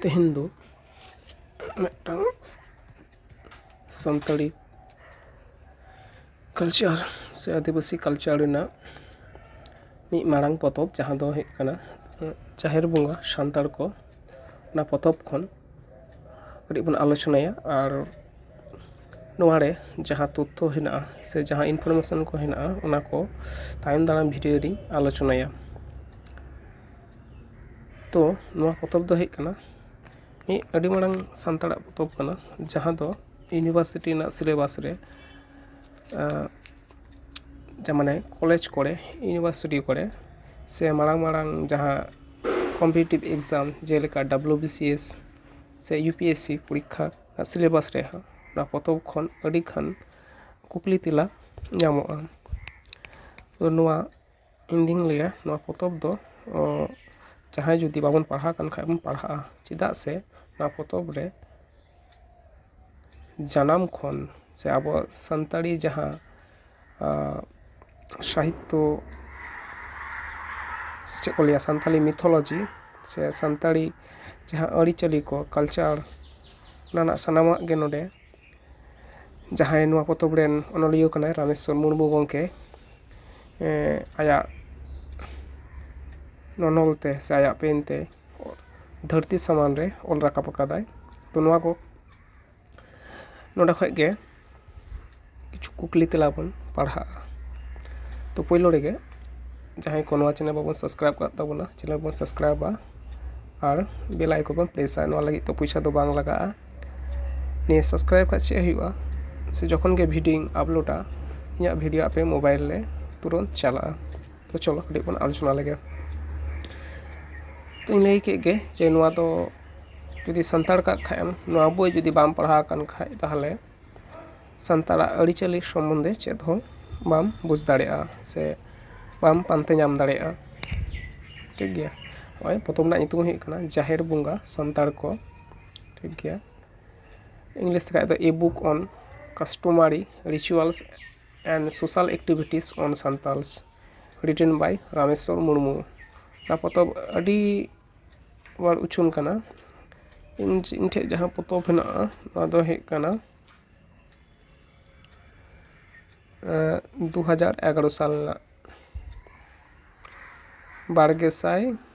ᱛᱮᱦᱮᱧ ᱫᱚ ᱢᱤᱫᱴᱟᱝ ᱥᱟᱱᱛᱟᱲᱤ ᱠᱟᱞᱪᱟᱨ ᱥᱮ ᱟᱹᱫᱤᱵᱟᱹᱥᱤ ᱠᱟᱞᱪᱟᱨ ᱨᱮᱱᱟᱜ ᱢᱤᱫ ᱢᱟᱨᱟᱝ ᱯᱚᱛᱚᱵ ᱡᱟᱦᱟᱸ ᱫᱚ ᱦᱩᱭᱩᱜ ᱠᱟᱱᱟ ᱡᱟᱦᱮᱨ ᱵᱚᱸᱜᱟ ᱥᱟᱱᱛᱟᱲ ᱠᱚ ᱚᱱᱟ ᱯᱚᱛᱚᱵ ᱠᱷᱚᱱ ᱠᱟᱹᱴᱤᱡ ᱵᱚᱱ ᱟᱞᱳᱪᱚᱱᱟᱭᱟ ᱟᱨ ᱱᱚᱣᱟ ᱨᱮ ᱡᱟᱦᱟᱸ ᱛᱚᱛᱛᱷᱚ ᱦᱮᱱᱟᱜᱼᱟ ᱥᱮ ᱡᱟᱦᱟᱸ ᱤᱱᱯᱷᱚᱨᱢᱮᱥᱚᱱ ᱠᱚ ᱦᱮᱱᱟᱜᱼᱟ ᱚᱱᱟ ᱠᱚ ᱛᱟᱭᱚᱢ ᱫᱟᱨᱟᱢ ᱵᱷᱤᱰᱭᱳ ᱨᱤᱧ ᱟᱞᱳᱪᱚᱱᱟᱭᱟ ᱛᱚ ᱱᱚᱣᱟ ᱯᱚᱛᱚᱵ ᱫᱚ ᱦᱩᱭᱩᱜ ᱠᱟᱱᱟ ᱢᱤᱫ ᱟᱹᱰᱤ ᱢᱟᱨᱟᱝ ᱥᱟᱱᱛᱟᱲᱟᱜ ᱯᱚᱛᱚᱵ ᱠᱟᱱᱟ ᱡᱟᱦᱟᱸ ᱫᱚ ᱤᱭᱩᱱᱤᱵᱷᱟᱨᱥᱤᱴᱤ ᱨᱮᱱᱟᱜ ᱥᱤᱞᱮᱵᱟᱥ ᱨᱮ ᱡᱮ ᱢᱟᱱᱮ ᱠᱚᱞᱮᱡᱽ ᱠᱚᱨᱮ ᱤᱭᱩᱱᱤᱵᱷᱟᱨᱥᱤᱴᱤ ᱠᱚᱨᱮ ᱥᱮ ᱢᱟᱨᱟᱝ ᱢᱟᱨᱟᱝ ᱡᱟᱦᱟᱸ ᱠᱚᱢᱯᱤᱴᱤᱴᱤᱵᱽ ᱮᱠᱡᱟᱢ ᱡᱮᱞᱮᱠᱟ ᱰᱟᱵᱞᱩ ᱵᱤ ᱥᱤ ᱮᱥ ᱥᱮ ᱤᱭᱩ ᱯᱤ ᱮᱥ ᱥᱤ ᱯᱚᱨᱤᱠᱠᱷᱟ ᱨᱮᱱᱟᱜ ᱥᱤᱞᱮᱵᱟᱥ ᱨᱮᱦᱚᱸ ᱚᱱᱟ ᱯᱚᱛᱚᱵ ᱠᱷᱚᱱ ᱟᱹᱰᱤᱜᱟᱱ ᱠᱩᱠᱞᱤ ᱛᱮᱞᱟ ᱧᱟᱢᱚᱜᱼᱟ ᱛᱚ ᱱᱚᱣᱟ ᱤᱧ ᱫᱩᱧ ᱞᱟᱹᱭᱟ ᱱᱚᱣᱟ ᱯᱚᱛᱚᱵ ᱫᱚ ᱡᱟᱦᱟᱸᱭ ᱡᱩᱫᱤ ᱵᱟᱵᱚᱱ ᱯᱟᱲᱦᱟᱣ ᱟᱠᱟᱱ ᱠᱷᱟᱱ ᱵᱚᱱ ᱯᱟᱲᱦᱟᱜᱼᱟ ᱪᱮᱫᱟᱜ ᱥᱮ ᱱᱚᱣᱟ ᱯᱚᱛᱚᱵ ᱨᱮ ᱡᱟᱱᱟᱢ ᱠᱷᱚᱱ ᱥᱮ ᱟᱵᱚᱣᱟᱜ ᱥᱟᱱᱛᱟᱲᱤ ᱡᱟᱦᱟᱸ ᱥᱟᱦᱤᱛᱛᱚ ᱥᱮ ᱪᱮᱫ ᱠᱚ ᱞᱟᱹᱭᱟ ᱥᱟᱱᱛᱟᱲᱤ ᱢᱤᱛᱷᱳᱞᱳᱡᱤ ᱥᱮ ᱥᱟᱱᱛᱟᱲᱤ ᱡᱟᱦᱟᱸ ᱟᱹᱨᱤᱪᱟᱹᱞᱤ ᱠᱚ ᱠᱟᱞᱪᱟᱨ ᱚᱱᱟ ᱨᱮᱱᱟᱜ ᱥᱟᱱᱟᱢᱟᱜ ᱜᱮ ᱱᱚᱰᱮ ᱡᱟᱦᱟᱸᱭ ᱱᱚᱣᱟ ᱯᱚᱛᱚᱵ ᱨᱮᱱ ᱚᱱᱚᱞᱤᱭᱟᱹ ᱠᱟᱱᱟᱭ ᱨᱟᱢᱮᱥᱥᱚᱨ ᱢᱩᱨᱢᱩ ᱜᱚᱢᱠᱮ ᱟᱭᱟᱜ ᱱᱚᱱᱚᱞ ᱛᱮ ᱥᱮ ᱟᱭᱟᱜ ᱯᱮᱱ ᱛᱮ ᱫᱷᱟᱹᱨᱛᱤ ᱥᱟᱢᱟᱝ ᱨᱮ ᱚᱞ ᱨᱟᱠᱟᱵ ᱟᱠᱟᱫᱟᱭ ᱛᱚ ᱱᱚᱣᱟ ᱠᱚ ᱱᱚᱰᱮ ᱠᱷᱚᱱ ᱜᱮ ᱠᱤᱪᱷᱩ ᱠᱩᱠᱞᱤ ᱛᱮᱞᱟ ᱵᱚᱱ ᱯᱟᱲᱦᱟᱜᱼᱟ ᱛᱚ ᱯᱳᱭᱞᱳ ᱨᱮᱜᱮ ᱡᱟᱦᱟᱸᱭ ᱠᱚ ᱱᱚᱣᱟ ᱪᱮᱱᱮᱞ ᱵᱟᱵᱚᱱ ᱥᱟᱵᱥᱠᱨᱟᱭᱤᱵᱽ ᱟᱠᱟᱫ ᱛᱟᱵᱚᱱᱟ ᱪᱮᱱᱮᱞ ᱵᱚᱱ ᱥᱟᱵᱥᱠᱨᱟᱭᱤᱵᱟ ᱟᱨ ᱵᱮᱞ ᱟᱭᱠᱚᱱ ᱵᱚᱱ ᱯᱨᱮᱥᱟ ᱱᱚᱣᱟ ᱞᱟᱹᱜᱤᱫ ᱛᱮ ᱯᱚᱭᱥᱟ ᱫᱚ ᱵᱟᱝ ᱞᱟᱜᱟᱜᱼᱟ ᱱᱤᱭᱟᱹ ᱥᱟᱵᱥᱠᱨᱟᱭᱤᱵᱽ ᱠᱷᱟᱱ ᱪᱮᱫ ᱦᱩᱭᱩᱜᱼᱟ ᱥᱮ ᱡᱚᱠᱷᱚᱱ ᱜᱮ ᱵᱷᱤᱰᱭᱳᱧ ᱟᱯᱞᱳᱰᱟ ᱤᱧᱟᱹᱜ ᱵᱷᱤᱰᱭᱳ ᱟᱯᱮ ᱢᱳᱵᱟᱭᱤᱞ ᱨᱮ ᱛᱩᱨᱟᱹᱛ ᱪᱟᱞᱟᱜᱼᱟ ᱛᱚ ᱪᱚᱞᱚ ᱠᱟᱹᱴᱤᱡ ᱵᱚᱱ ᱟᱞᱳᱪᱚᱱᱟ ᱞᱮᱜᱮ ᱛᱚᱧ ᱞᱟᱹᱭ ᱠᱮᱫ ᱜᱮ ᱡᱮ ᱱᱚᱣᱟ ᱫᱚ ᱡᱩᱫᱤ ᱥᱟᱱᱛᱟᱲ ᱠᱟᱜ ᱠᱷᱟᱱ ᱮᱢ ᱱᱚᱣᱟ ᱵᱳᱭ ᱡᱩᱫᱤ ᱵᱟᱢ ᱯᱟᱲᱦᱟᱣ ᱟᱠᱟᱱ ᱠᱷᱟᱱ ᱛᱟᱦᱚᱞᱮ ᱥᱟᱱᱛᱟᱲᱟᱜ ᱟᱹᱨᱤᱪᱟᱹᱞᱤ ᱥᱚᱢᱚᱱᱫᱷᱮ ᱪᱮᱫ ᱦᱚᱸ ᱵᱟᱢ ᱵᱩᱡᱽ ᱫᱟᱲᱮᱭᱟᱜᱼᱟ ᱥᱮ ᱵᱟᱢ ᱯᱟᱱᱛᱮ ᱧᱟᱢ ᱫᱟᱲᱮᱭᱟᱜᱼᱟ ᱴᱷᱤᱠ ᱜᱮᱭᱟ ᱱᱚᱜᱼᱚᱭ ᱯᱚᱛᱚᱵ ᱨᱮᱱᱟᱜ ᱧᱩᱛᱩᱢ ᱦᱩᱭᱩᱜ ᱠᱟᱱᱟ ᱡᱟᱦᱮᱨ ᱵᱚᱸᱜᱟ ᱥᱟᱱᱛᱟᱲ ᱠᱚ ᱴᱷᱤᱠ ᱜᱮᱭᱟ ᱤᱝᱞᱤᱥ ᱛᱮᱠᱷᱟᱡ ᱫᱚ a book on customary rituals and social activities on Santals written by Rameswar Murmu ᱚᱱᱟ ᱯᱚᱛᱚᱵ ᱟᱹᱰᱤ ᱦᱚᱲ ᱩᱪᱷᱟᱹᱱ ᱠᱟᱱᱟ ᱤᱧ ᱤᱧ ᱴᱷᱮᱡ ᱡᱟᱦᱟᱸ ᱯᱚᱛᱚᱵ ᱦᱮᱱᱟᱜᱼᱟ ᱚᱱᱟ ᱫᱚ ᱦᱩᱭᱩᱜ ᱠᱟᱱᱟ ᱫᱩ ᱦᱟᱡᱟᱨ ᱮᱜᱟᱨᱚ ᱥᱟᱞ ᱨᱮᱱᱟᱜ ᱵᱟᱨ ᱜᱮ ᱥᱟᱭ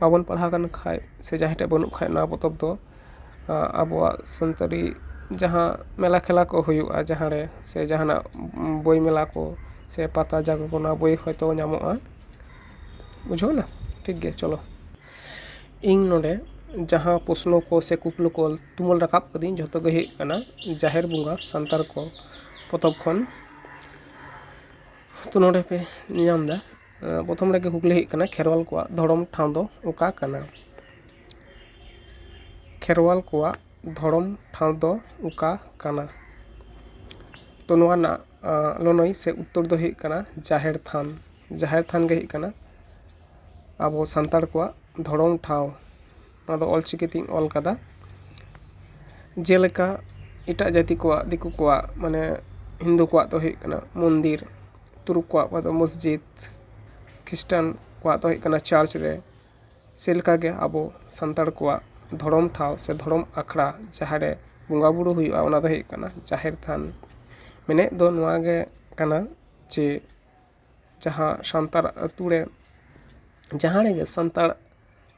ᱵᱟᱵᱚᱱ ᱯᱟᱲᱦᱟᱣ ᱟᱠᱟᱱ ᱠᱷᱟᱡ ᱥᱮ ᱡᱟᱦᱟᱸᱭ ᱴᱷᱮᱡ ᱵᱟᱹᱱᱩᱜ ᱠᱷᱟᱡ ᱱᱚᱣᱟ ᱯᱚᱛᱚᱵ ᱫᱚ ᱟᱵᱚᱣᱟᱜ ᱥᱟᱱᱛᱟᱲᱤ ᱡᱟᱦᱟᱸ ᱢᱮᱞᱟ ᱠᱷᱮᱞᱟ ᱠᱚ ᱦᱩᱭᱩᱜᱼᱟ ᱡᱟᱦᱟᱸ ᱨᱮ ᱥᱮ ᱡᱟᱦᱟᱸᱱᱟᱜ ᱵᱳᱭ ᱢᱮᱞᱟ ᱠᱚ ᱥᱮ ᱯᱟᱛᱟ ᱡᱟᱜᱮ ᱠᱚ ᱚᱱᱟ ᱵᱳᱭ ᱦᱚᱭᱛᱳ ᱧᱟᱢᱚᱜᱼᱟ ᱵᱩᱡᱷᱟᱹᱣ ᱮᱱᱟ ᱴᱷᱤᱠ ᱜᱮᱭᱟ ᱪᱚᱞᱚ ᱤᱧ ᱱᱚᱰᱮ ᱡᱟᱦᱟᱸ ᱯᱨᱚᱥᱱᱚ ᱠᱚ ᱥᱮ ᱠᱩᱠᱞᱤ ᱠᱚ ᱛᱩᱢᱟᱹᱞ ᱨᱟᱠᱟᱵ ᱠᱟᱹᱫᱟᱹᱧ ᱡᱷᱚᱛᱚ ᱜᱮ ᱦᱩᱭᱩᱜ ᱠᱟᱱᱟ ᱡᱟᱦᱮᱨ ᱵᱚᱸᱜᱟ ᱥᱟᱱᱛᱟᱲ ᱠᱚ ᱯᱚᱛᱚᱵ ᱠᱷᱚᱱ ᱛᱚ ᱱᱚᱰᱮ ᱯᱮ ᱧᱮᱞ ᱧᱟᱢ ᱮᱫᱟ ᱯᱨᱚᱛᱷᱚᱢ ᱨᱮᱜᱮ ᱠᱩᱠᱞᱤ ᱦᱩᱭᱩᱜ ᱠᱟᱱᱟ ᱠᱷᱮᱨᱣᱟᱞ ᱠᱚᱣᱟᱜ ᱫᱷᱚᱨᱚᱢ ᱴᱷᱟᱶ ᱫᱚ ᱚᱠᱟ ᱠᱟᱱᱟ ᱠᱷᱮᱨᱣᱟᱞ ᱠᱚᱣᱟᱜ ᱫᱷᱚᱨᱚᱢ ᱴᱷᱟᱶ ᱫᱚ ᱚᱠᱟ ᱠᱟᱱᱟ ᱛᱚ ᱱᱚᱣᱟ ᱨᱮᱱᱟᱜ ᱞᱟᱹᱱᱟᱹᱭ ᱥᱮ ᱩᱛᱛᱚᱨ ᱫᱚ ᱦᱩᱭᱩᱜ ᱠᱟᱱᱟ ᱡᱟᱦᱮᱨ ᱛᱷᱟᱱ ᱡᱟᱦᱮᱨ ᱛᱷᱟᱱ ᱜᱮ ᱦᱩᱭᱩᱜ ᱠᱟᱱᱟ ᱟᱵᱚ ᱥᱟᱱᱛᱟᱲ ᱠᱚᱣᱟᱜ ᱫᱷᱚᱨᱚᱢ ᱴᱷᱟᱶ ᱱᱚᱣᱟ ᱫᱚ ᱚᱞᱪᱤᱠᱤ ᱛᱤᱧ ᱚᱞ ᱟᱠᱟᱫᱟ ᱡᱮᱞᱮᱠᱟ ᱮᱴᱟᱜ ᱡᱟᱹᱛᱤ ᱠᱚᱣᱟᱜ ᱫᱤᱠᱩ ᱠᱚᱣᱟᱜ ᱢᱟᱱᱮ ᱦᱤᱱᱫᱩ ᱠᱚᱣᱟᱜ ᱫᱚ ᱦᱩᱭᱩᱜ ᱠᱟᱱᱟ ᱢᱚᱱᱫᱤᱨ ᱛᱩᱨᱩᱠ ᱠᱚᱣᱟᱜ ᱫᱚ ᱢᱚᱥᱡᱤᱫᱽ ᱠᱷᱤᱥᱴᱟᱱ ᱠᱚᱣᱟᱜ ᱫᱚ ᱦᱩᱭᱩᱜ ᱠᱟᱱᱟ ᱪᱟᱨᱪ ᱨᱮ ᱪᱮᱫ ᱞᱮᱠᱟ ᱜᱮ ᱟᱵᱚ ᱥᱟᱱᱛᱟᱲ ᱠᱚᱣᱟᱜ ᱫᱷᱚᱨᱚᱢ ᱴᱷᱟᱶ ᱥᱮ ᱫᱷᱚᱨᱚᱢ ᱟᱠᱷᱲᱟ ᱡᱟᱦᱟᱸ ᱨᱮ ᱵᱚᱸᱜᱟ ᱵᱳᱨᱳ ᱦᱩᱭᱩᱜᱼᱟ ᱚᱱᱟ ᱫᱚ ᱦᱩᱭᱩᱜ ᱠᱟᱱᱟ ᱡᱟᱦᱮᱨ ᱛᱷᱟᱱ ᱢᱮᱱᱮᱫ ᱫᱚ ᱱᱚᱣᱟ ᱜᱮ ᱠᱟᱱᱟ ᱡᱮ ᱡᱟᱦᱟᱸ ᱥᱟᱱᱛᱟᱲ ᱟᱹᱛᱩ ᱨᱮ ᱡᱟᱦᱟᱸ ᱨᱮᱜᱮ ᱥᱟᱱᱛᱟᱲ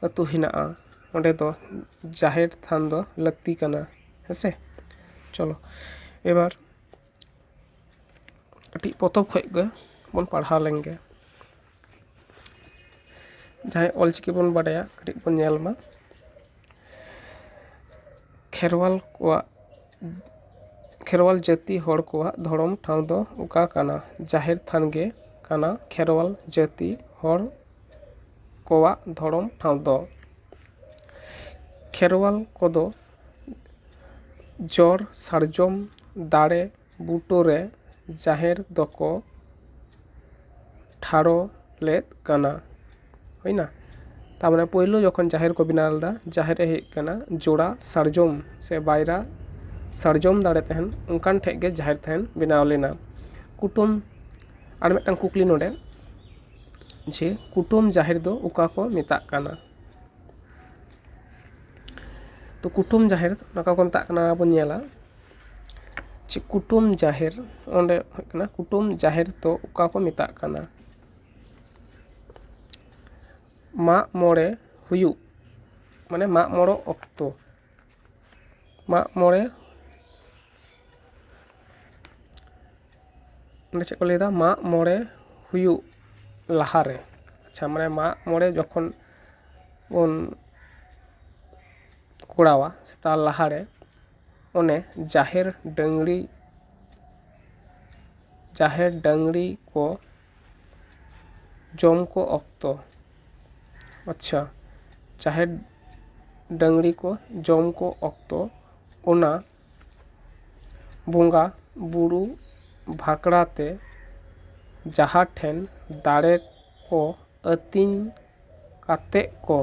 ᱟᱹᱛᱩ ᱦᱮᱱᱟᱜᱼᱟ ᱚᱸᱰᱮ ᱫᱚ ᱡᱟᱦᱮᱨ ᱛᱷᱟᱱ ᱫᱚ ᱞᱟᱹᱠᱛᱤ ᱠᱟᱱᱟ ᱦᱮᱸ ᱥᱮ ᱪᱚᱞᱚ ᱮᱵᱟᱨ ᱠᱟᱹᱴᱤᱡ ᱯᱚᱛᱚᱵ ᱠᱷᱚᱱ ᱜᱮ ᱵᱚᱱ ᱯᱟᱲᱦᱟᱣ ᱞᱮᱱ ᱜᱮ ᱡᱟᱦᱟᱸᱭ ᱚᱞᱪᱤᱠᱤ ᱵᱚᱱ ᱵᱟᱰᱟᱭᱟ ᱠᱟᱹᱴᱤᱡ ᱵᱚᱱ ᱧᱮᱞ ᱢᱟ ᱠᱷᱮᱨᱣᱟᱞ ᱠᱚᱣᱟᱜ ᱠᱷᱮᱨᱣᱟᱞ ᱡᱟᱹᱛᱤ ᱦᱚᱲ ᱠᱚᱣᱟᱜ ᱫᱷᱚᱨᱚᱢ ᱴᱷᱟᱶ ᱫᱚ ᱚᱠᱟ ᱠᱟᱱᱟ ᱡᱟᱦᱮᱨ ᱛᱷᱟᱱ ᱜᱮ ᱠᱟᱱᱟ ᱠᱷᱮᱨᱣᱟᱞ ᱡᱟᱹᱛᱤ ᱦᱚᱲ ᱠᱚᱣᱟᱜ ᱫᱷᱚᱨᱚᱢ ᱴᱷᱟᱶ ᱫᱚ ᱠᱷᱮᱨᱣᱟᱞ ᱠᱚᱫᱚ ᱡᱚᱲ ᱥᱟᱨᱡᱚᱢ ᱫᱟᱨᱮ ᱵᱩᱴᱳ ᱨᱮ ᱡᱟᱦᱮᱨ ᱫᱚᱠᱚ ᱴᱷᱟᱲᱚ ᱞᱮᱫ ᱠᱟᱱᱟ ᱦᱩᱭᱮᱱᱟ ᱛᱟᱨᱯᱚᱨᱮ ᱯᱳᱭᱞᱳ ᱡᱚᱠᱷᱚᱱ ᱡᱟᱦᱮᱨ ᱠᱚ ᱵᱮᱱᱟᱣ ᱞᱮᱫᱟ ᱡᱟᱦᱮᱨ ᱨᱮ ᱦᱮᱡ ᱠᱟᱱᱟ ᱡᱳᱲᱟ ᱥᱟᱨᱡᱚᱢ ᱥᱮ ᱵᱟᱭᱨᱟ ᱥᱟᱨᱡᱚᱢ ᱫᱟᱨᱮ ᱛᱟᱦᱮᱱ ᱚᱱᱠᱟᱱ ᱴᱷᱮᱱ ᱜᱮ ᱡᱟᱦᱮᱨ ᱛᱟᱦᱮᱱ ᱵᱮᱱᱟᱣ ᱞᱮᱱᱟ ᱠᱩᱴᱟᱹᱢ ᱟᱨ ᱢᱤᱫᱴᱟᱱ ᱠᱩᱠᱞᱤ ᱱᱚᱰᱮ ᱡᱮ ᱠᱩᱴᱟᱹᱢ ᱡᱟᱦᱮᱨ ᱫᱚ ᱚᱠᱟ ᱠᱚ ᱢᱮᱛᱟᱜ ᱠᱟᱱᱟ ᱛᱚ ᱠᱩᱴᱟᱹᱢ ᱡᱟᱦᱮᱨ ᱚᱠᱟ ᱠᱚ ᱢᱮᱛᱟᱜ ᱠᱟᱱᱟ ᱵᱚᱱ ᱧᱮᱞᱟ ᱪᱮᱫ ᱠᱩᱴᱟᱹᱢ ᱡᱟᱦᱮᱨ ᱚᱸᱰᱮ ᱦᱩᱭᱩᱜ ᱠᱟᱱᱟ ᱠᱩᱴᱟᱹᱢ ᱡᱟᱦᱮᱨ ᱫᱚ ᱚᱠᱟ ᱠᱚ ᱢᱮᱛᱟᱜ ᱠᱟᱱᱟ ᱢᱟᱜ ᱢᱚᱬᱮ ᱦᱩᱭᱩᱜ ᱢᱟᱱᱮ ᱢᱟᱜ ᱢᱚᱬᱮ ᱚᱠᱛᱚ ᱢᱟᱜ ᱢᱚᱬᱮ ᱚᱸᱰᱮ ᱪᱮᱫ ᱠᱚ ᱞᱟᱹᱭᱫᱟ ᱢᱟᱜ ᱢᱚᱬᱮ ᱦᱩᱭᱩᱜ ᱞᱟᱦᱟ ᱨᱮ ᱟᱪᱪᱷᱟ ᱢᱟᱱᱮ ᱢᱟᱜ ᱢᱚᱬᱮ ᱡᱚᱠᱷᱚᱱ ᱵᱚᱱ ᱠᱚᱨᱟᱣᱟ ᱥᱮ ᱛᱟᱨ ᱞᱟᱦᱟ ᱨᱮ ᱚᱱᱮ ᱡᱟᱦᱮᱨ ᱰᱟᱹᱝᱨᱤ ᱡᱟᱦᱮᱨ ᱰᱟᱹᱝᱨᱤ ᱠᱚ ᱡᱚᱢ ᱠᱚ ᱚᱠᱛᱚ ᱟᱪᱪᱷᱟ ᱡᱟᱦᱮᱨ ᱰᱟᱹᱝᱨᱤ ᱠᱚ ᱡᱚᱢ ᱠᱚ ᱚᱠᱛᱚ ᱚᱱᱟ ᱵᱚᱸᱜᱟ ᱵᱳᱨᱳ ᱵᱷᱟᱠᱨᱟᱛᱮ ᱡᱟᱦᱟᱸ ᱴᱷᱮᱱ ᱫᱟᱲᱮ ᱠᱚ ᱟᱹᱛᱤᱧ ᱠᱟᱛᱮᱫ ᱠᱚ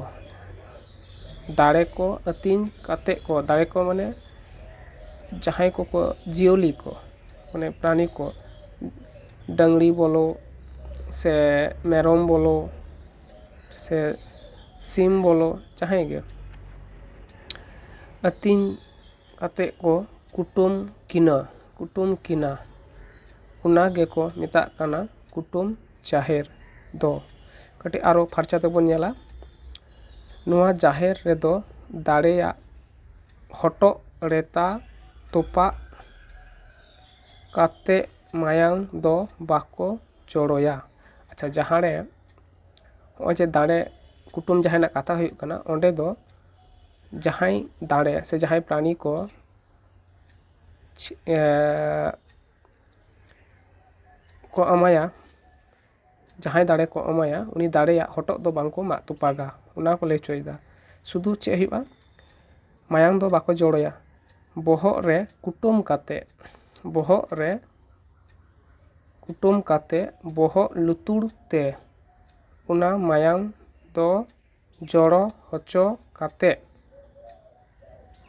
ᱫᱟᱲᱮ ᱠᱚ ᱟᱹᱛᱤᱧ ᱠᱟᱛᱮᱫ ᱠᱚ ᱫᱟᱲᱮ ᱠᱚ ᱢᱟᱱᱮ ᱡᱟᱦᱟᱸᱭ ᱠᱚᱠᱚ ᱡᱤᱭᱟᱹᱞᱤ ᱠᱚ ᱢᱟᱱᱮ ᱯᱨᱟᱱᱤ ᱠᱚ ᱰᱟᱹᱝᱨᱤ ᱵᱚᱞᱚ ᱥᱮ ᱢᱮᱨᱚᱢ ᱵᱚᱞᱚ ᱥᱮ ᱥᱤᱢ ᱵᱚᱞᱚ ᱡᱟᱦᱟᱸᱭ ᱜᱮ ᱟᱹᱛᱤᱧ ᱠᱟᱛᱮᱫ ᱠᱚ ᱠᱩᱴᱟᱹᱢ ᱠᱤᱱᱟᱹ ᱠᱩᱴᱟᱹᱢ ᱠᱤᱱᱟ ᱚᱱᱟ ᱜᱮᱠᱚ ᱢᱮᱛᱟᱜ ᱠᱟᱱᱟ ᱠᱩᱴᱟᱹᱢ ᱡᱟᱦᱮᱨ ᱫᱚ ᱠᱟᱹᱴᱤᱡ ᱟᱨᱚ ᱯᱷᱟᱨᱪᱟ ᱛᱮᱵᱚᱱ ᱧᱮᱞᱟ ᱱᱚᱣᱟ ᱡᱟᱦᱮᱨ ᱨᱮᱫᱚ ᱫᱟᱲᱮᱭᱟᱜ ᱦᱚᱴᱚᱜ ᱨᱮᱛᱟ ᱛᱚᱯᱟᱜ ᱠᱟᱛᱮ ᱢᱟᱭᱟᱝ ᱫᱚ ᱵᱟᱠᱚ ᱡᱚᱨᱚᱭᱟ ᱟᱪᱪᱷᱟ ᱡᱟᱦᱟᱸ ᱨᱮ ᱱᱚᱜᱼᱚᱭ ᱡᱮ ᱫᱟᱲᱮ ᱠᱩᱴᱟᱹᱢ ᱡᱟᱦᱮᱨ ᱨᱮᱱᱟᱜ ᱠᱟᱛᱷᱟ ᱦᱩᱭᱩᱜ ᱠᱟᱱᱟ ᱚᱸᱰᱮ ᱫᱚ ᱡᱟᱦᱟᱸᱭ ᱫᱟᱲᱮ ᱥᱮ ᱡᱟᱦᱟᱸᱭ ᱯᱨᱟᱱᱤ ᱠᱚ ᱠᱚ ᱮᱢᱟᱭᱟ ᱡᱟᱦᱟᱸᱭ ᱫᱟᱲᱮ ᱠᱚ ᱮᱢᱟᱭᱟ ᱩᱱᱤ ᱫᱟᱲᱮᱭᱟᱜ ᱦᱚᱴᱚᱜ ᱫᱚ ᱵᱟᱝ ᱠᱚ ᱢᱟᱜ ᱛᱚᱯᱟᱜᱟ ᱚᱱᱟ ᱠᱚ ᱞᱟᱹᱭ ᱦᱚᱪᱚᱭᱮᱫᱟ ᱥᱩᱫᱩ ᱪᱮᱫ ᱦᱩᱭᱩᱜᱼᱟ ᱢᱟᱭᱟᱝ ᱫᱚ ᱵᱟᱠᱚ ᱡᱚᱲᱚᱭᱟ ᱵᱚᱦᱚᱜ ᱨᱮ ᱠᱩᱴᱟᱹᱢ ᱠᱟᱛᱮ ᱵᱚᱦᱚᱜ ᱨᱮ ᱠᱩᱴᱟᱹᱢ ᱠᱟᱛᱮ ᱵᱚᱦᱚᱜ ᱞᱩᱛᱩᱨ ᱛᱮ ᱚᱱᱟ ᱢᱟᱭᱟᱝ ᱫᱚ ᱡᱚᱲᱚ ᱦᱚᱪᱚ ᱠᱟᱛᱮ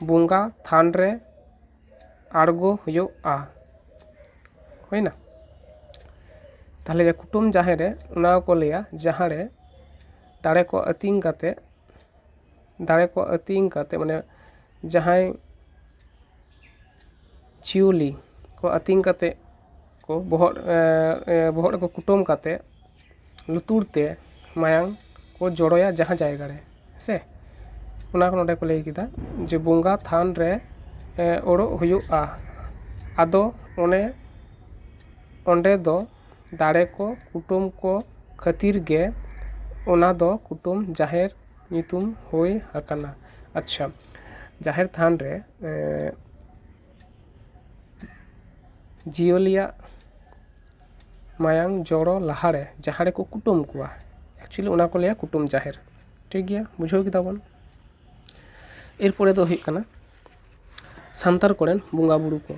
ᱵᱚᱸᱜᱟ ᱛᱷᱟᱱ ᱨᱮ ᱟᱬᱜᱚ ᱦᱩᱭᱩᱜᱼᱟ ᱦᱩᱭᱮᱱᱟ ᱛᱟᱦᱚᱞᱮ ᱡᱮ ᱠᱩᱴᱟᱹᱢ ᱡᱟᱦᱮᱨ ᱨᱮ ᱚᱱᱟ ᱜᱮᱠᱚ ᱞᱟᱹᱭᱟ ᱡᱟᱦᱟᱸ ᱨᱮ ᱫᱟᱲᱮ ᱠᱚ ᱟᱹᱛᱤᱧ ᱠᱟᱛᱮ ᱫᱟᱲᱮ ᱠᱚ ᱟᱹᱛᱤᱧ ᱠᱟᱛᱮ ᱢᱟᱱᱮ ᱡᱟᱦᱟᱸᱭ ᱪᱤᱭᱩᱞᱤ ᱠᱚ ᱟᱹᱛᱤᱧ ᱠᱟᱛᱮ ᱠᱚ ᱵᱚᱦᱚᱜ ᱵᱚᱦᱚᱜ ᱨᱮᱠᱚ ᱠᱩᱴᱟᱹᱢ ᱠᱟᱛᱮ ᱞᱩᱛᱩᱨ ᱛᱮ ᱢᱟᱭᱟᱝ ᱠᱚ ᱡᱚᱨᱚᱭᱟ ᱡᱟᱦᱟᱸ ᱡᱟᱭᱜᱟ ᱨᱮ ᱥᱮ ᱚᱱᱟ ᱦᱚᱸ ᱱᱚᱰᱮ ᱠᱚ ᱞᱟᱹᱭ ᱠᱮᱫᱟ ᱡᱮ ᱵᱚᱸᱜᱟ ᱛᱷᱟᱱ ᱨᱮ ᱚᱰᱚᱜ ᱦᱩᱭᱩᱜᱼᱟ ᱟᱫᱚ ᱚᱱᱮ ᱚᱸᱰᱮ ᱫᱚ ᱫᱟᱲᱮ ᱠᱚ ᱠᱩᱴᱟᱹᱢ ᱠᱚ ᱠᱷᱟᱹᱛᱤᱨ ᱜᱮ ᱚᱱᱟ ᱫᱚ ᱠᱩᱴᱟᱹᱢ ᱡᱟᱦᱮᱨ ᱧᱩᱛᱩᱢ ᱦᱩᱭ ᱟᱠᱟᱱᱟ ᱟᱪᱪᱷᱟ ᱡᱟᱦᱮᱨ ᱛᱷᱟᱱ ᱨᱮ ᱡᱤᱭᱟᱹᱞᱤᱭᱟᱜ ᱢᱟᱭᱟᱝ ᱡᱚᱨᱚ ᱞᱟᱦᱟ ᱨᱮ ᱡᱟᱦᱟᱸ ᱨᱮᱠᱚ ᱠᱩᱴᱟᱹᱢ ᱠᱚᱣᱟ ᱮᱠᱪᱩᱭᱮᱞᱤ ᱚᱱᱟ ᱠᱚ ᱞᱟᱹᱭᱟ ᱠᱩᱴᱟᱹᱢ ᱡᱟᱦᱮᱨ ᱴᱷᱤᱠ ᱜᱮᱭᱟ ᱵᱩᱡᱷᱟᱹᱣ ᱠᱮᱫᱟ ᱵᱚᱱ ᱮᱨᱯᱚᱨᱮ ᱫᱚ ᱦᱩᱭᱩᱜ ᱠᱟᱱᱟ ᱥᱟᱱᱛᱟᱲ ᱠᱚᱨᱮᱱ ᱵᱚᱸᱜᱟ ᱵᱩᱨᱩ ᱠᱚ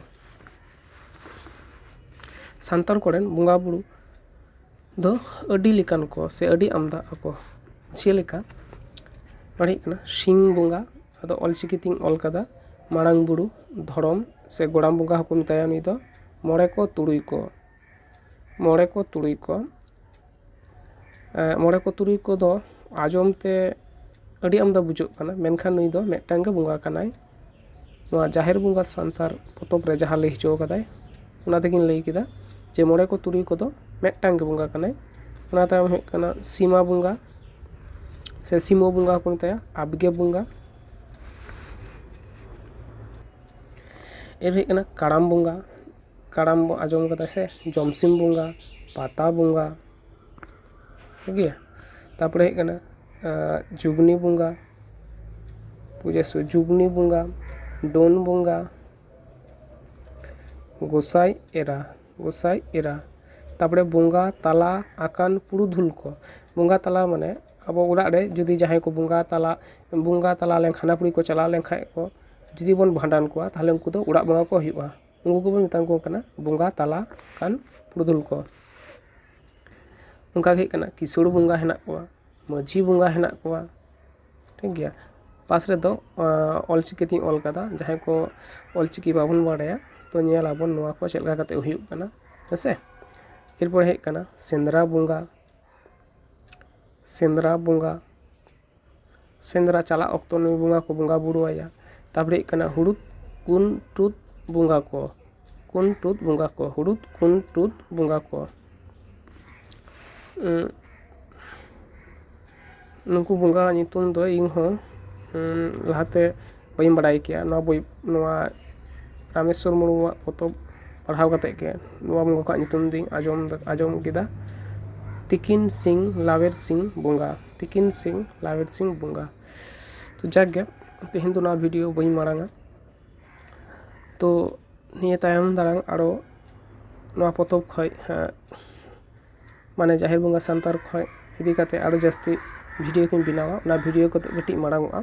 ᱥᱟᱱᱛᱟᱲ ᱠᱚᱨᱮᱱ ᱵᱚᱸᱜᱟ ᱵᱩᱨᱩ ᱫᱚ ᱟᱹᱰᱤ ᱞᱮᱠᱟᱱ ᱠᱚ ᱥᱮ ᱟᱹᱰᱤ ᱟᱢᱫᱟ ᱟᱠᱚ ᱡᱮᱞᱮᱠᱟ ᱱᱚᱣᱟ ᱫᱚ ᱦᱩᱭᱩᱜ ᱠᱟᱱᱟ ᱥᱤᱧ ᱵᱚᱸᱜᱟ ᱟᱫᱚ ᱚᱞ ᱪᱤᱠᱤ ᱛᱤᱧ ᱚᱞ ᱠᱟᱫᱟ ᱢᱟᱨᱟᱝ ᱵᱩᱨᱩ ᱫᱷᱚᱨᱚᱢ ᱥᱮ ᱜᱚᱲᱟᱢ ᱵᱚᱸᱜᱟ ᱦᱚᱸᱠᱚ ᱢᱮᱛᱟᱭᱟ ᱱᱩᱭ ᱫᱚ ᱢᱚᱬᱮ ᱠᱚ ᱛᱩᱨᱩᱭ ᱠᱚ ᱢᱚᱬᱮ ᱠᱚ ᱛᱩᱨᱩᱭ ᱠᱚ ᱢᱚᱬᱮ ᱠᱚ ᱛᱩᱨᱩᱭ ᱠᱚᱫᱚ ᱟᱸᱡᱚᱢ ᱛᱮ ᱟᱹᱰᱤ ᱟᱢᱫᱟ ᱵᱩᱡᱷᱟᱹᱜ ᱠᱟᱱᱟ ᱢᱮᱱᱠᱷᱟᱱ ᱱᱩᱭ ᱫᱚ ᱢᱤᱫᱴᱟᱝ ᱜᱮ ᱵᱚᱸᱜᱟ ᱠᱟᱱᱟᱭ ᱱᱚᱣᱟ ᱡᱟᱦᱮᱨ ᱵᱚᱸᱜᱟ ᱥᱟᱱᱛᱟᱲ ᱯᱚᱛᱚᱵ ᱨᱮ ᱡᱟᱦᱟᱸ ᱞᱟᱹᱭ ᱦᱚᱪᱚ ᱟᱠᱟᱫᱟᱭ ᱚᱱᱟ ᱛᱮᱜᱮᱧ ᱞᱟᱹᱭ ᱠᱮᱫᱟ ᱡᱮ ᱢᱚᱬᱮ ᱠᱚ ᱛᱩᱨᱩᱭ ᱠᱚᱫᱚ ᱢᱤᱫᱴᱟᱝ ᱜᱮ ᱵᱚᱸᱜᱟ ᱠᱟᱱᱟᱭ ᱚᱱᱟ ᱛᱟᱭᱚᱢ ᱦᱩᱭᱩᱜ ᱠᱟᱱᱟ ᱥᱤᱢᱟ ᱵᱚᱸᱜᱟ ᱥᱮ ᱥᱤᱢᱟᱹ ᱵᱚᱸᱜᱟ ᱦᱚᱸᱠᱚ ᱢᱮᱛᱟᱭᱟ ᱟᱵᱽᱜᱮ ᱵᱚᱸᱜᱟ ᱮᱨ ᱦᱩᱭᱩᱜ ᱠᱟᱱᱟ ᱠᱟᱨᱟᱢ ᱵᱚᱸᱜᱟ ᱠᱟᱨᱟᱢ ᱵᱚᱱ ᱟᱸᱡᱚᱢ ᱠᱟᱫᱟ ᱥᱮ ᱡᱚᱢᱥᱤᱢ ᱵᱚᱸᱜᱟ ᱯᱟᱛᱟ ᱵᱚᱸᱜᱟ ᱴᱷᱤᱠ ᱜᱮᱭᱟ ᱛᱟᱨᱯᱚᱨᱮ ᱦᱮᱡ ᱠᱟᱱᱟ ᱡᱩᱜᱽᱱᱤ ᱵᱚᱸᱜᱟ ᱯᱩᱡᱟᱹ ᱥᱮ ᱡᱩᱜᱽᱱᱤ ᱵᱚᱸᱜᱟ ᱰᱟᱹᱱ ᱵᱚᱸᱜᱟ ᱜᱚᱸᱥᱟᱭ ᱮᱨᱟ ᱜᱚᱸᱥᱟᱭ ᱮᱨᱟ ᱛᱟᱨᱯᱚᱨᱮ ᱵᱚᱸᱜᱟ ᱛᱟᱞᱟ ᱟᱠᱟᱱ ᱯᱩᱨᱩᱫᱷᱩᱞ ᱠᱚ ᱵᱚᱸᱜᱟ ᱛᱟᱞᱟ ᱢᱟᱱᱮ ᱟᱵᱚ ᱚᱲᱟᱜ ᱨᱮ ᱡᱩᱫᱤ ᱡᱟᱦᱟᱸᱭ ᱠᱚ ᱵᱚᱸᱜᱟ ᱛᱟᱞᱟ ᱵᱚᱸᱜᱟ ᱛᱟᱞᱟ ᱞᱮᱱᱠᱷᱟᱱ ᱦᱟᱱᱟ ᱯᱤᱲᱦᱤ ᱠᱚ ᱪᱟᱞᱟᱣ ᱞᱮᱱᱠᱷᱟᱱ ᱠᱚ ᱡᱩᱫᱤ ᱵᱚᱱ ᱵᱷᱟᱸᱰᱟᱱ ᱠᱚᱣᱟ ᱛᱟᱦᱚᱞᱮ ᱩᱱᱠᱩ ᱫᱚ ᱚᱲᱟᱜ ᱵᱚᱸᱜᱟ ᱠᱚ ᱦᱩᱭᱩᱜᱼᱟ ᱩᱱᱠᱩ ᱠᱚᱵᱚ ᱢᱮᱛᱟ ᱠᱚ ᱠᱟᱱᱟ ᱵᱚᱸᱜᱟ ᱛᱟᱞᱟ ᱟᱱ ᱯᱩᱨᱩᱫᱷᱩᱞ ᱠᱚ ᱚᱱᱠᱟ ᱜᱮ ᱦᱩᱭᱩᱜ ᱠᱟᱱᱟ ᱠᱤᱥᱟᱹᱬ ᱵᱚᱸᱜᱟ ᱦᱮᱱᱟᱜ ᱠᱚᱣᱟ ᱢᱟᱹᱡᱷᱤ ᱵᱚᱸᱜᱟ ᱦᱮᱱᱟᱜ ᱠᱚᱣᱟ ᱴᱷᱤᱠ ᱜᱮᱭᱟ ᱯᱟᱥ ᱨᱮᱫᱚ ᱚᱞ ᱪᱤᱠᱤ ᱛᱤᱧ ᱚᱞ ᱠᱟᱫᱟ ᱡᱟᱦᱟᱸᱭ ᱠᱚ ᱚᱞ ᱪᱤᱠᱤ ᱵᱟᱵᱚᱱ ᱵᱟᱲᱟᱭᱟ ᱛᱚ ᱧᱮᱞ ᱟᱵᱚᱱ ᱱᱚᱣᱟ ᱠᱚ ᱪᱮᱫ ᱞᱮᱠᱟ ᱠᱟᱛᱮ ᱦᱩᱭᱩᱜ ᱠᱟᱱᱟ ᱦᱮᱸᱥᱮ ᱮᱨᱯᱚᱨᱮ ᱦᱮᱡ ᱠᱟᱱᱟ ᱥᱮᱸᱫᱽᱨᱟ ᱵᱚᱸᱜᱟ ᱥᱮᱸᱫᱽᱨᱟ ᱵᱚᱸᱜᱟ ᱥᱮᱸᱫᱽᱨᱟ ᱪᱟᱞᱟᱜ ᱚᱠᱛᱚ ᱱᱩᱭ ᱵᱚᱸᱜᱟ ᱠᱚ ᱵᱚᱸᱜᱟ ᱵᱩᱨᱩ ᱟᱭᱟ ᱛᱟᱯᱚᱨᱮ ᱦᱩᱭᱩᱜ ᱠᱟᱱᱟ ᱦᱩᱲᱩᱫ ᱠᱩᱱ ᱴᱩᱫ ᱵᱚᱸᱜᱟ ᱠᱚ ᱠᱩᱱ ᱴᱩᱫ ᱵᱚᱸᱜᱟ ᱠᱚ ᱦᱩᱲᱩᱫ ᱠᱩᱱ ᱴᱩᱫ ᱵᱚᱸᱜᱟ ᱠᱚ ᱱᱩᱠᱩ ᱵᱚᱸᱜᱟ ᱧᱩᱛᱩᱢ ᱫᱚ ᱤᱧ ᱦᱚᱸ ᱞᱟᱦᱟ ᱛᱮ ᱵᱟᱹᱧ ᱵᱟᱲᱟᱭ ᱠᱮᱭᱟ ᱱᱚᱣᱟ ᱵᱳᱭ ᱱᱚᱣᱟ ᱨᱟᱢᱮᱥᱥᱚᱨ ᱢᱩᱨᱢᱩᱣᱟᱜ ᱯᱚᱛᱚᱵ ᱯᱟᱲᱦᱟᱣ ᱠᱟᱛᱮ ᱜᱮ ᱱᱚᱣᱟ ᱵᱚᱸᱜᱟ ᱠᱚᱣᱟᱜ ᱧᱩᱛᱩᱢ ᱫᱚᱹᱧ ᱟᱸᱡᱚᱢ ᱟᱸᱡᱚᱢ ᱠᱮᱫᱟ ᱛᱤᱠᱤᱱ ᱥᱤᱝ ᱞᱟᱣᱮᱨ ᱥᱤᱝ ᱵᱚᱸᱜᱟ ᱛᱤᱠᱤᱱ ᱥᱤᱝ ᱞᱟᱣᱮᱨ ᱥᱤᱝ ᱵᱚᱸᱜᱟ ᱛᱚ ᱡᱟᱠ ᱜᱮ ᱛᱮᱦᱮᱧ ᱫᱚ ᱱᱚᱣᱟ ᱵᱷᱤᱰᱤᱭᱳ ᱵᱟᱹᱧ ᱢᱟᱲᱟᱝᱟ ᱛᱚ ᱱᱤᱭᱟᱹ ᱛᱟᱭᱚᱢ ᱫᱟᱨᱟᱢ ᱟᱨᱚ ᱱᱚᱣᱟ ᱯᱚᱛᱚᱵ ᱠᱷᱚᱡ ᱢᱟᱱᱮ ᱡᱟᱦᱮᱨ ᱵᱚᱸᱜᱟ ᱥᱟᱱᱛᱟᱲ ᱠᱷᱚᱡ ᱤᱫᱤ ᱠᱟᱛᱮ ᱟᱨᱚ ᱡᱟᱹᱥᱛᱤ ᱵᱷᱤᱰᱤᱭᱳ ᱠᱚᱧ ᱵᱮᱱᱟᱣᱟ ᱚᱱᱟ ᱵᱷᱤᱰᱤᱭᱳ ᱠᱚᱫᱚ ᱠᱟᱹᱴᱤᱡ ᱢᱟᱲᱟᱝ ᱚᱜᱼᱟ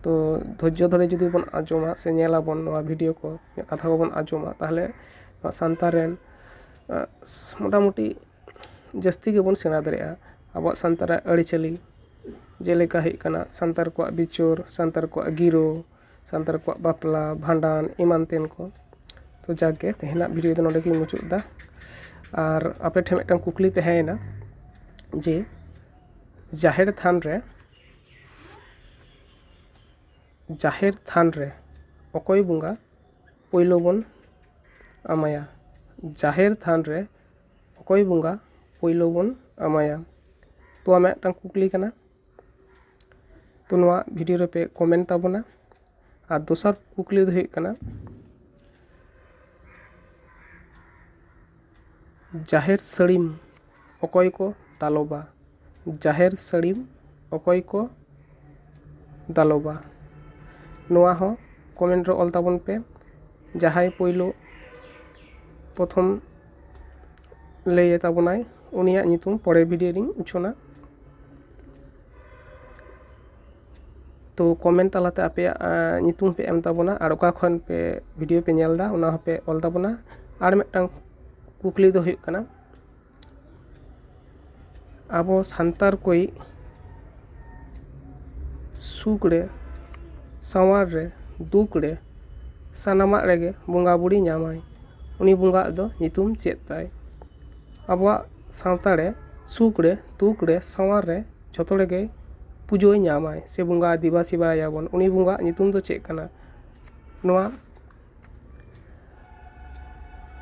ᱛᱚ ᱫᱷᱳᱨᱡᱳ ᱫᱷᱚᱨᱮ ᱡᱩᱫᱤ ᱵᱚᱱ ᱟᱸᱡᱚᱢᱟ ᱥᱮ ᱧᱮᱞ ᱟᱵᱚᱱ ᱱᱚᱣᱟ ᱵᱷᱤᱰᱤᱭᱳ ᱠᱚ ᱤᱧᱟᱹᱜ ᱠᱟᱛᱷᱟ ᱠᱚᱵᱚᱱ ᱟᱸᱡᱚᱢᱟ ᱛᱟᱦᱚᱞᱮ ᱱᱚᱣᱟ ᱥᱟᱱᱛᱟᱲ ᱨᱮᱱ ᱢᱳᱴᱟᱢᱩᱴᱤ ᱡᱟᱹᱥᱛᱤ ᱜᱮᱵᱚᱱ ᱥᱮᱬᱟ ᱫᱟᱲᱮᱭᱟᱜᱼᱟ ᱟᱵᱚᱣᱟᱜ ᱥᱟᱱᱛᱟᱲᱟᱜ ᱟᱹᱨᱤᱪᱟᱹᱞᱤ ᱡᱮᱞᱮᱠᱟ ᱦᱩᱭᱩᱜ ᱠᱟᱱᱟ ᱥᱟᱱᱛᱟᱲ ᱠᱚᱣᱟᱜ ᱵᱤᱪᱟᱹᱨ ᱥᱟᱱᱛᱟᱲ ᱠᱚᱣᱟᱜ ᱜᱤᱨᱟᱹ ᱥᱟᱱᱛᱟᱲ ᱠᱚᱣᱟᱜ ᱵᱟᱯᱞᱟ ᱵᱷᱟᱸᱰᱟᱱ ᱮᱢᱟᱱ ᱛᱮᱱ ᱠᱚ ᱛᱚ ᱡᱟᱠ ᱜᱮ ᱛᱮᱦᱮᱧᱟᱜ ᱵᱷᱤᱰᱭᱳ ᱫᱚ ᱱᱚᱰᱮ ᱜᱤᱧ ᱢᱩᱪᱟᱹᱫ ᱮᱫᱟ ᱟᱨ ᱟᱯᱮ ᱴᱷᱮᱱ ᱢᱤᱫᱴᱟᱱ ᱠᱩᱠᱞᱤ ᱛᱟᱦᱮᱸᱭᱮᱱᱟ ᱡᱮ ᱡᱟᱦᱮᱨ ᱛᱷᱟᱱ ᱨᱮ ᱡᱟᱦᱮᱨ ᱛᱷᱟᱱ ᱨᱮ ᱚᱠᱚᱭ ᱵᱚᱸᱜᱟ ᱯᱳᱭᱞᱳ ᱵᱚᱱ ᱮᱢᱟᱭᱟ ᱡᱟᱦᱮᱨ ᱛᱷᱟᱱ ᱨᱮ ᱚᱠᱚᱭ ᱵᱚᱸᱜᱟ ᱯᱳᱭᱞᱳ ᱵᱚᱱ ᱟᱢᱟᱭᱟ ᱛᱚ ᱟᱢᱟᱜ ᱢᱤᱫᱴᱟᱝ ᱠᱩᱠᱞᱤ ᱠᱟᱱᱟ ᱛᱚ ᱱᱚᱣᱟ ᱵᱷᱤᱰᱤᱭᱳ ᱨᱮᱯᱮ ᱠᱚᱢᱮᱱᱴ ᱛᱟᱵᱚᱱᱟ ᱟᱨ ᱫᱚᱥᱟᱨ ᱠᱩᱠᱞᱤ ᱫᱚ ᱦᱩᱭᱩᱜ ᱠᱟᱱᱟ ᱡᱟᱦᱮᱨ ᱥᱟᱹᱲᱤᱢ ᱚᱠᱚᱭ ᱠᱚ ᱫᱟᱞᱚᱵᱟ ᱡᱟᱦᱮᱨ ᱥᱟᱹᱲᱤᱢ ᱚᱠᱚᱭ ᱠᱚ ᱫᱟᱞᱚᱵᱟ ᱱᱚᱣᱟ ᱦᱚᱸ ᱠᱚᱢᱮᱱᱴ ᱨᱮ ᱚᱞ ᱛᱟᱵᱚᱱ ᱯᱮ ᱡᱟᱦᱟᱸᱭ ᱯᱳᱭᱞᱳ ᱯᱨᱚᱛᱷᱚᱢ ᱞᱟᱹᱭ ᱟᱛᱟᱵᱚᱱᱟᱭ ᱩᱱᱤᱭᱟᱜ ᱧᱩᱛᱩᱢ ᱯᱚᱨᱮᱨ ᱵᱷᱤᱰᱤᱭᱳ ᱨᱤᱧ ᱩᱪᱷᱟᱹᱱᱟ ᱛᱚ ᱠᱚᱢᱮᱱᱴ ᱛᱟᱞᱟᱛᱮ ᱟᱯᱮᱭᱟᱜ ᱧᱩᱛᱩᱢ ᱯᱮ ᱮᱢ ᱛᱟᱵᱚᱱᱟ ᱟᱨ ᱚᱠᱟ ᱠᱷᱚᱱ ᱯᱮ ᱵᱷᱤᱰᱤᱭᱳ ᱯᱮ ᱧᱮᱞ ᱮᱫᱟ ᱚᱱᱟ ᱦᱚᱸᱯᱮ ᱚᱞ ᱛᱟᱵᱚᱱᱟ ᱟᱨ ᱢᱤᱫᱴᱟᱝ ᱠᱩᱠᱞᱤ ᱫᱚ ᱦᱩᱭᱩᱜ ᱠᱟᱱᱟ ᱟᱵᱚ ᱥᱟᱱᱛᱟᱲ ᱠᱚᱭᱤᱡ ᱥᱩᱠ ᱨᱮ ᱥᱟᱶᱟᱨ ᱨᱮ ᱫᱩᱠ ᱨᱮ ᱥᱟᱱᱟᱢᱟᱜ ᱨᱮᱜᱮ ᱵᱚᱸᱜᱟ ᱵᱩᱲᱤ ᱧᱟᱢᱟᱭ ᱩᱱᱤ ᱵᱚᱸᱜᱟ ᱟᱜ ᱫᱚ ᱧᱩᱛᱩᱢ ᱪᱮᱫ ᱛᱟᱭ ᱟᱵᱚᱣᱟᱜ ᱥᱟᱶᱛᱟ ᱨᱮ ᱥᱩᱠ ᱨᱮ ᱫᱩᱠ ᱨᱮ ᱥᱟᱶᱟᱨ ᱨᱮ ᱡᱷᱚᱛᱚ ᱨᱮᱜᱮ ᱯᱩᱡᱟᱹᱭ ᱧᱟᱢᱟᱭ ᱥᱮ ᱵᱚᱸᱜᱟ ᱫᱮᱵᱟ ᱥᱮᱵᱟᱭᱮᱭᱟ ᱵᱚᱱ ᱩᱱᱤ ᱵᱚᱸᱜᱟ ᱟᱜ ᱧᱩᱛᱩᱢ ᱫᱚ ᱪᱮᱫ ᱠᱟᱱᱟ ᱱᱚᱣᱟ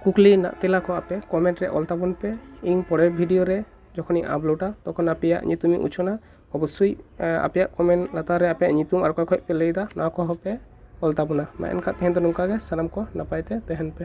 ᱠᱩᱠᱞᱤ ᱨᱮᱱᱟᱜ ᱛᱮᱞᱟ ᱠᱚ ᱟᱯᱮ ᱠᱚᱢᱮᱱᱴ ᱨᱮ ᱚᱞ ᱛᱟᱵᱚᱱ ᱯᱮ ᱤᱧ ᱯᱚᱨᱮᱨ ᱵᱷᱤᱰᱤᱭᱳ ᱨᱮ ᱡᱚᱠᱷᱚᱱᱤᱧ ᱟᱯᱞᱳᱰᱟ ᱛᱚᱠᱷᱚᱱ ᱟᱯᱮᱭᱟᱜ ᱧᱩᱛᱩᱢ ᱤᱧ ᱩᱪᱷᱟᱹᱱᱟ ᱚᱵᱚᱥᱥᱳᱭ ᱟᱯᱮᱭᱟᱜ ᱠᱚᱢᱮᱱᱴ ᱞᱟᱛᱟᱨ ᱨᱮ ᱟᱯᱮᱭᱟᱜ ᱧᱩᱛᱩᱢ ᱟᱨ ᱚᱠᱟ ᱠᱷᱚᱱ ᱯᱮ ᱞᱟᱹᱭᱫᱟ ᱱᱚᱣᱟ ᱠᱚᱦᱚᱸ ᱯᱮ ᱚᱞ ᱛᱟᱵᱚᱱᱟ ᱢᱟ ᱮᱱᱠᱷᱟᱱ ᱛᱮᱦᱮᱧ ᱫᱚ ᱱᱚᱝᱠᱟ ᱜᱮ ᱥᱟᱱᱟᱢ ᱠᱚ ᱱᱟᱯᱟᱭ ᱛᱮ ᱛᱟᱦᱮᱱ ᱯᱮ